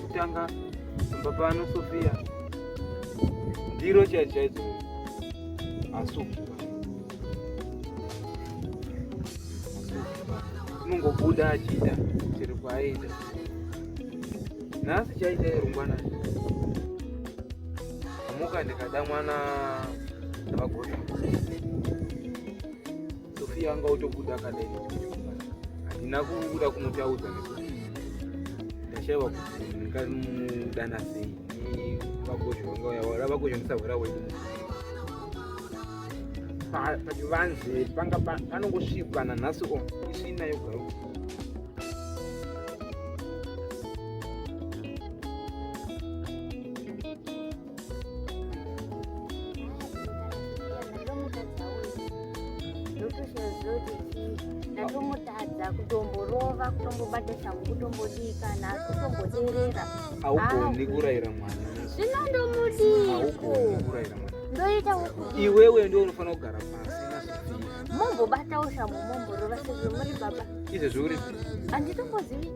kutanga pamba pano Sofia ndiro chaidzo chaidzo masuku unongobuda achiita chero kwaaiita nhasi chaita irungwana amuka ndikada mwana ndavagota Sofia anga utobuda akadai handina kuda kumutaudza nekuti ndashaiwa kuti ndingamudana sei vakuzhondisaura wedu pachivanze panga panongosvikwa nanhasi o isvina yogaro ndatomutadza kutomborova kutombobata shangu kutombodii kana kutomboderera haugoni kurayira mwana zvino ndomudiko ndoita iwewe ndo unofanira kugara pasi mombobatawo shambo momborova sezvo muri baba izvezvo uri anditombozivi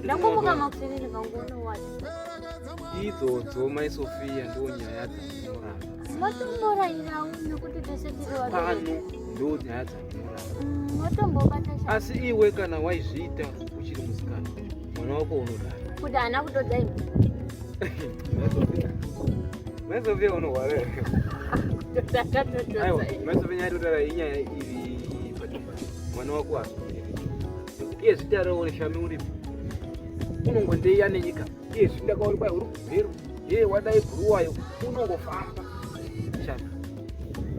ndakomboka makuseni ndikangoona wati idzodzo mai sofia ndo nyaya dzamorapano ndo nyaya dzamorapa asi iwe kana waizviita uchiri musikana mwana wako unodaro kuti haana kutodza iwe mai sofia unohwara aiwa mai sofia nyaya totara inyaya iri patumba mwana wako asi iye zvitarawo shami uripo unongondeiya nenyika Yes, ndakaona kwa huru kuberu. Ye wadai guruwayo unongofamba. Chana.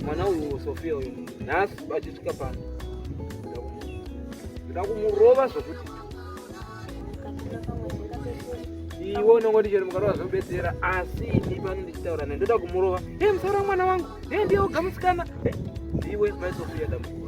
Mwana uyu Sofia uyu. Nhasi bachisvika pano. Ndakumurova zvokuti. Iwe unongoti chero mukarova zvobetsera asi ini pano ndichitaura naye ndoda kumurova. Ye musara mwana wangu. Ye ndiye ogamusikana. Iwe mai Sofia damukuru.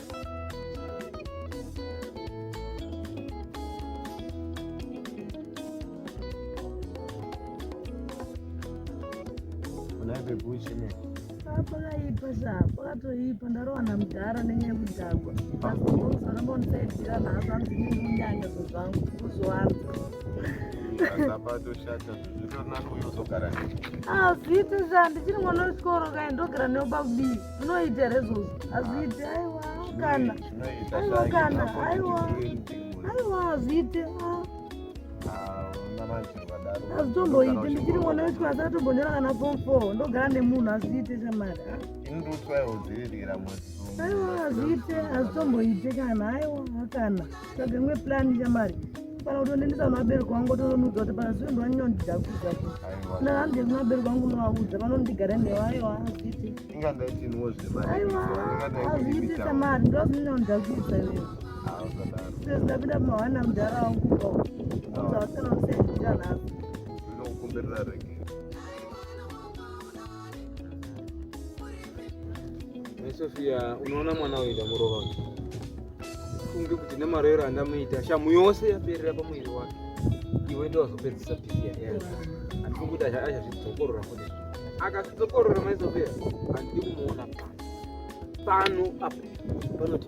pakatoipa ndarowana mudhara nenyaya yekudhakwa asoramba ndisaidira nhasi anzi ndinyanya zvezvangu kuzowana azviiti zvandichiri mwana wechikoro kai ndogara neobakubii zvinoita here izvozvo hazviiti aiwa kana aiwa kana aiwa aiwa hazviite hazvitomboiti ndichiri mwana wechikoro asi atombonyora kana form four ndogara nemunhu hazviite chamari aiwa hazviite hazvitomboite kana aiwa kana tsvaga imwe plan shamari kana kuti unendisa kuna vabereki wangu otonoudza kuti pana zvinhu vanondida kuudza kuti na handei kuna vabereki wangu unovaudza vanondigara newa aiwa hazviiti aiwa hazviiti shamari ndo zvinhu vanoda kuudza iwe sezvo ndapinda pamahwana mudhara wangu ko uza vasikana vasaidira nhasi Mai Sofia, unoona mwana uyu ndamurova uyu. Funge kuti nemarero andamuita shamu yose yaperera pamuviri wake. Iwe ndiye wazopedzisa pisi yake. Andifungi kuti achazvidzokorora futi. Akazvidzokorora Mai Sofia, handidi kumuona pano. Pano apo panoti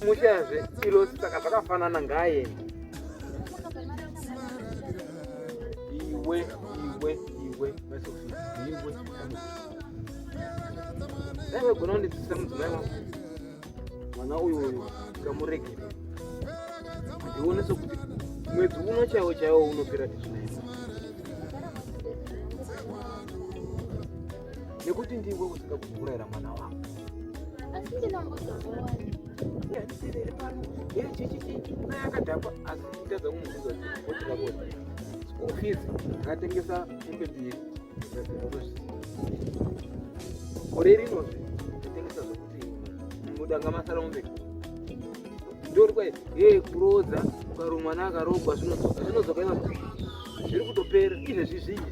mushayazve ilo saka zvakafanana ngaaende iwe iwe iwe iwe dai gona kundidzidzisa mudzimai wangu mwana uyu uyu ngamuregere ndione sokuti mwedzi uno chaiwo chaiwo unopera tizvinaisa nekuti ndiwe usika kuurayira mwana wako asi ndinongozoona yandisirere pano yeye chichichi naye akadhakwa asi nditadza kumubvunza kuti ndakoti school fees akatengesa hembe mbiri gore rinozve atengesa zvokuti mudanga masara mombe ndori kwai yeye kuroodza ukaro mwana akarogwa zvinodzoka zvinodzoka ivaa zviri kutopera izvezvi zvinyi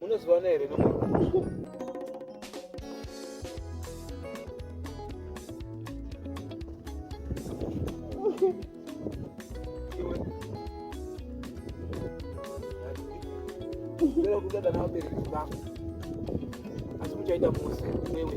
Munozivana here Pero kuda kana wabereki vako asi muchaita mose wewe